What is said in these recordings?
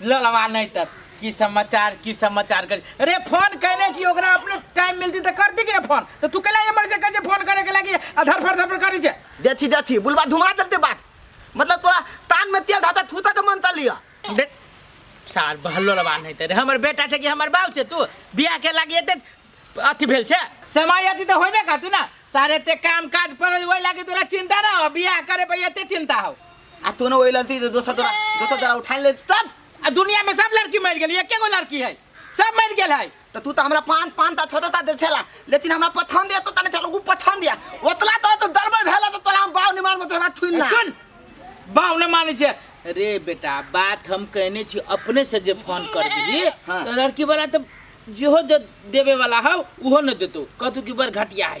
ललवा नहीं तब की समाचार की समाचार कर अरे फोन कहने छी ओकरा अपने टाइम मिलती तो करती कि ना फोन तो तू केला एमर से कहे फोन करे के लागी अधर फर धर करी छे देथी देथी बुलवा धुमा देते बात मतलब तोरा तान में तेल धाता थूता के मन तलिया देख सार बहलो लवा नहीं तरे हमर बेटा छे कि हमर बाप छे तू बियाह के लागी एते अथी भेल छे समय अथी तो होइबे करती ना सारे ते काम काज पर ओइ लागी तोरा चिंता ना हो बियाह करे पे एते चिंता हो आ तू ना वही लड़ती तो दोसर तोरा दोसर तोरा उठा ले सब आ दुनिया में सब लड़की मर गेली एके गो लड़की है सब मर गेल है तो तू तो हमरा पान पान ता छोटा ता दे थेला लेकिन हमरा पथन दिया तो तने थेला ऊ पथन दिया ओतला तो तो दरबे भेला तो तोरा हम बाव निमान में तो हमरा छुइल ना सुन बाव ने माने छे रे बेटा बात हम कहने छी अपने से जे फोन कर दिली हाँ। तो लड़की वाला तो जेहो दे, देवे वाला हौ उहो न देतो कहतु कि बर घटिया है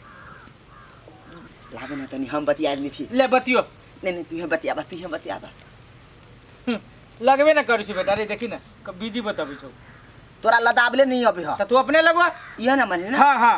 लागे ना तनी हम बतिया ली थी ले बतियो नहीं नहीं तू यहाँ बतिया बा तू यहाँ बतिया बा हम्म, लगबे ना करै छै बेटा रे देखी ना क- बीजी बताबै छौ तोरा लदाबले नहीं अबे ह त तू अपने लगवा यह ना माने ना हाँ हाँ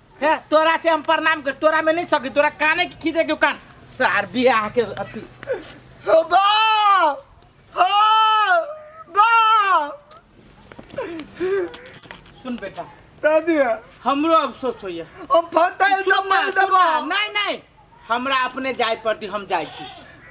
ए तोरा से हम प्रणाम कर तोरा में नहीं सकी तोरा काने की खीदे के कान सार बियाह के अति हो बा हो बा सुन बेटा दादी हमरो अफसोस होइए हम फटाइल चुप ना, दबाई चुप ना। दबा नहीं नहीं हमरा अपने जाय पड़ती हम जाइ छी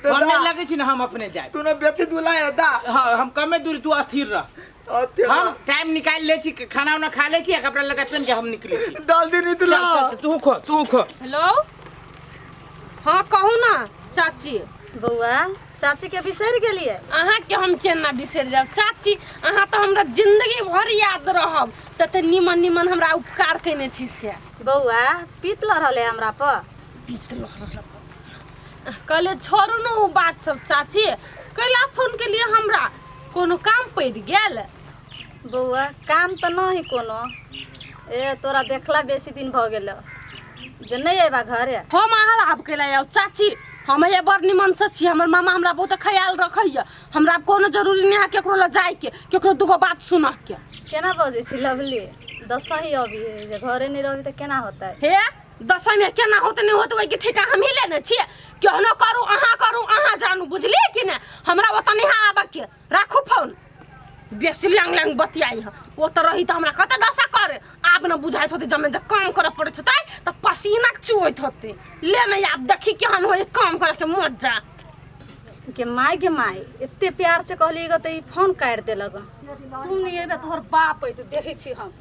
तऽ हम जा। नहि लगै छी ने हम अपने जाय तू ने बेसी दुला है दा हँ हम कमे दूर तू अस्थिर रह और तेरा हम टाइम निकालि लै छी खाना उना खा लै छी आ कपड़ा लगा पेन के हम निकलै छी डाल दी नहीं चल, तुला चल, चल, तू खो तू खो हेलो हाँ कहू ना चाची बौआ चाची के बिसरि गेलियै अहाँ के हम केना बिसरि जाब चाची अहाँ तऽ हमरा जिंदगी भर याद रहब तते निमन निमन हमरा उपकार कयने छी से बौआ पीत लऽ रहले हमरा पर पीत लऽ रहले कहले छोड़ू ने ओ बात सब चाची कैला फोन के लिए हमरा कोनो काम पड़ गेल बौआ काम तो ना ही कोनो ए तोरा देखला बेसी दिन भ गेल जे नहीं एबा घरे हम अहाँ आब कैला आउ चाची हम ये बड़ निमन से छी हमर मामा हमरा बहुत ख्याल रखैया हमरा आब कोनो जरूरी नहि है केकरो लग जाइके केकरो दूगो बात सुनऽके केना बजै छी लवली दसही अभी है जे घरे नहीं रहबी तऽ केना होतै हे दसैंमे केना होत नहि होत ओहिके ठेका हमही लेने छियै केहनो करू अहाँ करू अहाँ जानू बुझलियै कि ने हमरा ओतऽ नहि है आबऽके राखू फोन बेसी लैंग लैंग बतियाई है ओ तऽ रही तऽ हमरा कते दशा करे आब ने बुझाइत होते जमे जे काम करऽ पड़ैत होते तऽ पसीना चुअैत होते ले नहि आब देखी केहन होय काम करऽके मजा के माय के माय एते प्यार से कहली ग त ई फोन काट देलक तू नहीं एबे तोहर बाप है तू देखे छी हम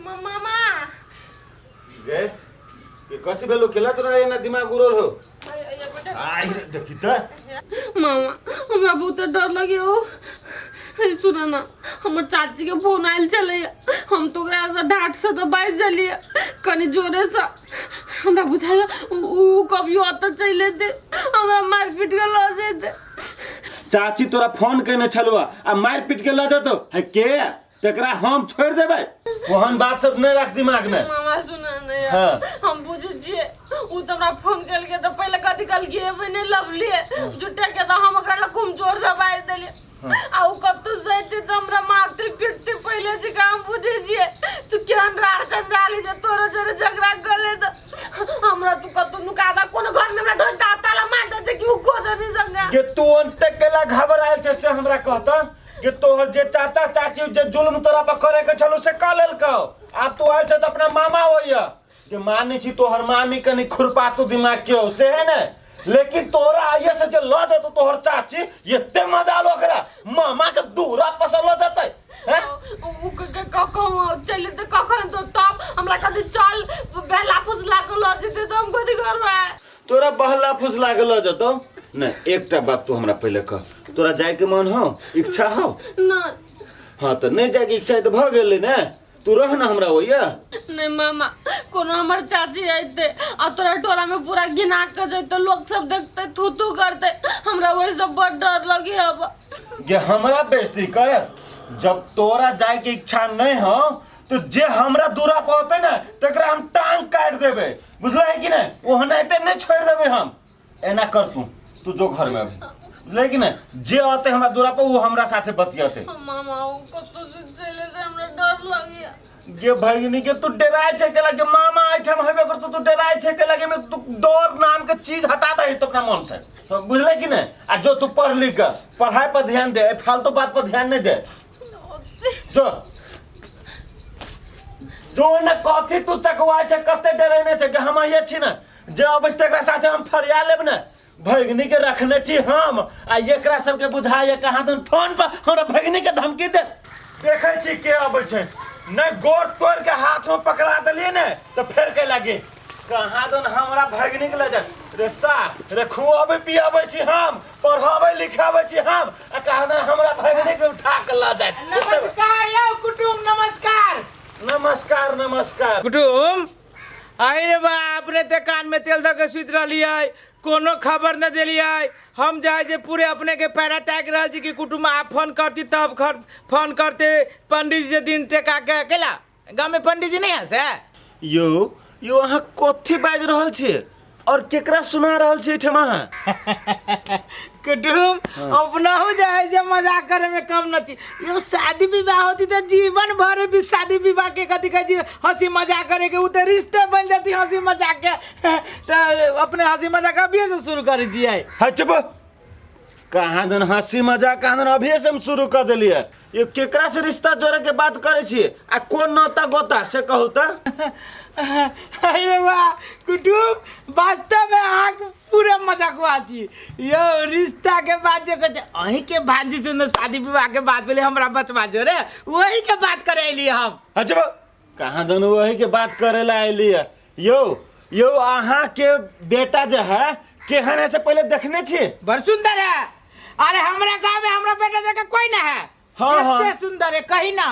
मामा गे के कथी भेलो केला तोरा एना दिमाग उड़ल हो आई रे देखी त मामा हमरा बहुत डर लगे हो हे सुन ना हमर चाची के फोन आयल चले हम तो ओकरा से डांट से तो बाज देलिए कनी जोरे से हमरा बुझाइए उ उ कभियो अत चले दे हमरा मार पीट के ल जेते चाची तोरा फोन केने छलुआ आ मार पीट के ल जतो है के तेकरा हम छोड़ देबे ओहन बात सब नहीं रख दिमाग में मामा सुना नहीं हाँ। हम बुझे छिए उ त हमरा फोन कल के त पहले कथि कल के एबे नहीं लवली जुटे के त हम ओकरा खूब जोर से बाज देली आ उ कत्तू सहित त हमरा मारते पीटते पहले से काम बुझे छिए तू केहन रार चंदाली जे तोरो जरे झगड़ा गले त हमरा तू कत्तू नुका दा कोनो घर में हमरा ढोल दाता ला मार देते कि उ को जनी संगा के तू अंत केला घबरायल छे से हमरा कहता कि तोहर जे चाचा चाची जे जुल्म तोरा पर करे के छलो से क लेलको आब तू आयल छ त अपना मामा होइया कि माने छी तोहर मामी कनी खुरपातू दिमाग के हो से है ने लेकिन तोरा आइये से जे ल जतो तोहर चाची एते मजा आलो ओकरा मामा के दूरा पसंद ल जतै हैं उ क- क- क- कहूँ चल तो कखन तो तब हमरा कहते चल बेला फुसला को लऽ जेते तो हम कथी करबै तोरा बहला फुसला के लऽ जतौ ने एकटा बात तू हमरा पहिले कह तोरा जाय के मन हो इच्छा हो ना हाँ तो नहीं जाय के इच्छा है तो भ गेले ने तू रह ना हमरा ओइया नहीं मामा कोनो हमर चाची अइते आ तोरा टोला में पूरा गिना के जइते लोग सब देखते थू थू करते हमरा वही सब बड़ डर लगी अब ये हमरा बेइज्जती करत जब तोरा जाय के इच्छा नहीं हो तो जे हमरा दूरा पर होते ना तकरा हम टांग काट देबे बुझला है कि ना ओहना ते नहीं छोड़ देबे हम एना कर तू तू जो घर में अभी बुझला है कि ना जे आते हमरा दूरा पर वो हमरा साथे बतियाते मामा वो कतो से चले से हमरा डर लगिया ये भगिनी के तू डराए छे के लगे मामा आए थे हम हमें कर तू तू डराए छे के लगे में तू डर नाम के चीज हटा दे तो अपना मन से तो बुझले कि ना आ जो तू पढ़ लिख के, पढ़ाई पर ध्यान दे ए फालतू बात पर ध्यान नहीं दे जो जो ने कथी तू चकवा छ कते डरेने छ जे हम आइए छी ने जे अबै छै तकरा साथे हम फरिया लेब ने भगिनी के रखने छी हम आ एकरा सबके बुझाइए कहाँ दन फोन पर हमरा भगिनी के धमकी दे देखै छी के अबै छै नहि गोर तोड़ के हाथ में पकड़ा देलिए ने तो फेर के लगे कहाँ दन हमरा भगनीक लऽ जाय रे सा रे खुआबै पियाबै छी हम पढ़ाबै लिखाबै छी हम आ कहाँ दन हमरा भगनीक उठा के लऽ जाय नमस्कार यौ कुटुम नमस्कार नमस्कार नमस्कार कुटुम अहि रे बा अपने ते कान में तेल दऽ के सुति रहलियै कोनो खबर न देलियै हम जाइ जे पूरे अपने के पैरा ताक रहल छी कि कुटुम आप फोन करती तब खर- फोन करते पंडित जी से दिन टेका के अकेला गाँव में पंडित जी नहीं है से यो यो अहाँ कथी बाज रहल छी और केकरा सुना रहल छी ठमा कुटुम अपना हो जाए जे मजाक करे में कम न थी यो शादी विवाह होती तो जीवन भर भी शादी विवाह के कथी कहे जी हंसी मजाक करे के उ तो रिश्ते बन जाती हंसी मजाक के तो अपने हंसी मजाक अभी से शुरू कर दिए है चुप कहाँ दिन हंसी मजाक कहाँ दिन अभी से हम शुरू कर दिलिए ये केकरा से रिश्ता जोड़े के बात करे छिए आ कौन नौता गोता से कहू त अरे वाह कुटुम वास्तव में अहाँ के पूरा मजाकवा छी यो रिश्ता के बात जे कहै छै अहीं के भांजी से ने शादी विवाह के बात भेलै हमरा बचवा जोरे वही के बात करे एलियै हम अजब कहाँ दन वही के बात करे ला अली है यो यो अहाँ के बेटा जो है केहन है से पहले देखने छी बड़ सुंदर है अरे हमरा गांव में हमरा बेटा जगह कोई ना है हाँ, एते हाँ। सुंदर है कहीं ना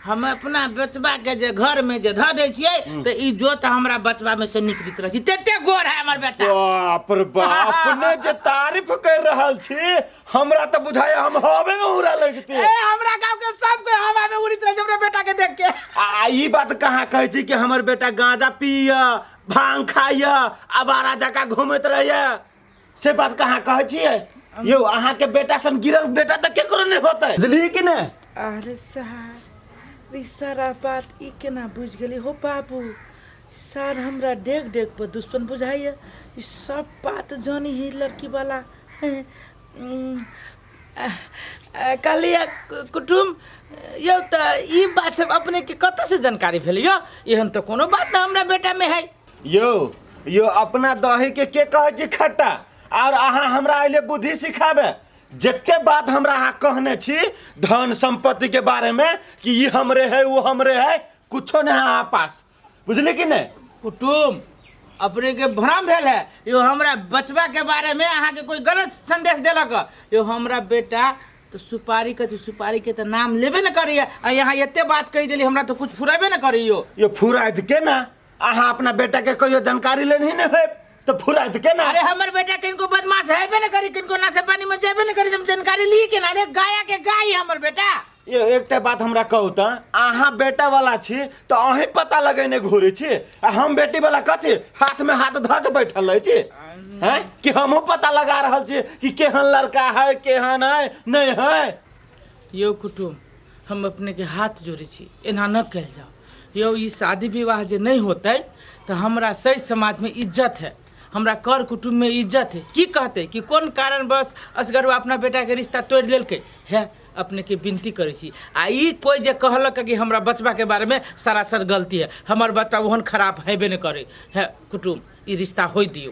हम अपना बचबा के जे घर में जे धऽ दै छियै तऽ ई जोत हमरा बचबा में से निकलित रहै छै तते गोर है हमर बेटा बाप रे बाप अपने जे तारीफ कर रहल छी हमरा तो बुझाए हम हवे उड़ा लगते ए हमरा गांव के सब कोई हवा में उड़ित रहे हमरा बेटा के देख के आ ई बात कहाँ कहै छी कि हमर बेटा गांजा पिय भांग खाय आवारा जका घूमत रहैया से बात कहाँ कहै छियै यौ अहाँके बेटा सन गिरल बेटा तऽ केकरो नहि होतै बुझलियै कि नहि अरे साहब ई सारा बात ई केना बुझ गेली हो बाबू सार हमरा डेग डेग पर दुश्मन बुझाइए ई सब बात जानी ही लड़की वाला कहलिए कुटुम यौ तऽ ई बात सब अपने के कतऽ से जानकारी भेल यौ एहन तऽ कोनो बात ना हमरा बेटा में है यो यो अपना दही के के कहे छी खट्टा और अहाँ हमरा अइले बुद्धि सिखाबे जते बात हमरा अहाँ कहने छी धन संपत्ति के बारे में कि ई हमरे है वो हमरे है कुछो नहीं है अहाँ पास बुझली कि नहि कुटुम अपने के भ्रम भेल है यो हमरा बचवा के बारे में अहाँ के कोई गलत संदेश देलक ह। यो हमरा बेटा तो सुपारी कथी सुपारी के तो नाम लेबे न करी आ यहाँ एते बात कही देली हमरा तो कुछ फुराबे न करी यो यो फुराइत के ना अहाँ अपना बेटा के कहियो जानकारी लेनी नहि है तो फुराइत के ना अरे हमर बेटा किनको बदमाश हेबे न करी किनको नशा पानी में जेबे न करी तुम जानकारी ली के ना अरे गाया के गाय है हमर बेटा ए एकटा बात हमरा कहू तऽ अहाँ बेटा वाला छी तऽ अहीं पता लगेने घुरे छी आ हम बेटी वाला कथी हाथ में हाथ धऽ के बैठल रहै छी हैं कि हमहूँ पता लगा रहल छी कि केहन लड़का है केहन है नहीं है यौ कुटुम हम अपने के हाथ जोड़े छी एना न कल जाओ यौ ई शादी विवाह जे नहीं होते तो हमरा सही समाज में इज्जत है हमरा कर कुटुम में इज्जत है की कहते कि कोन कारणवश असगरवा अपना बेटा के रिश्ता तोड़ लेलके है अपने के विनती करे छी आ ई कोई जे कहलक कि हमरा बचबा के बारे में सरासर गलती है हमर बच्चा ओहन खराब हेबे ने करे है कुटुम ई रिश्ता होई दियो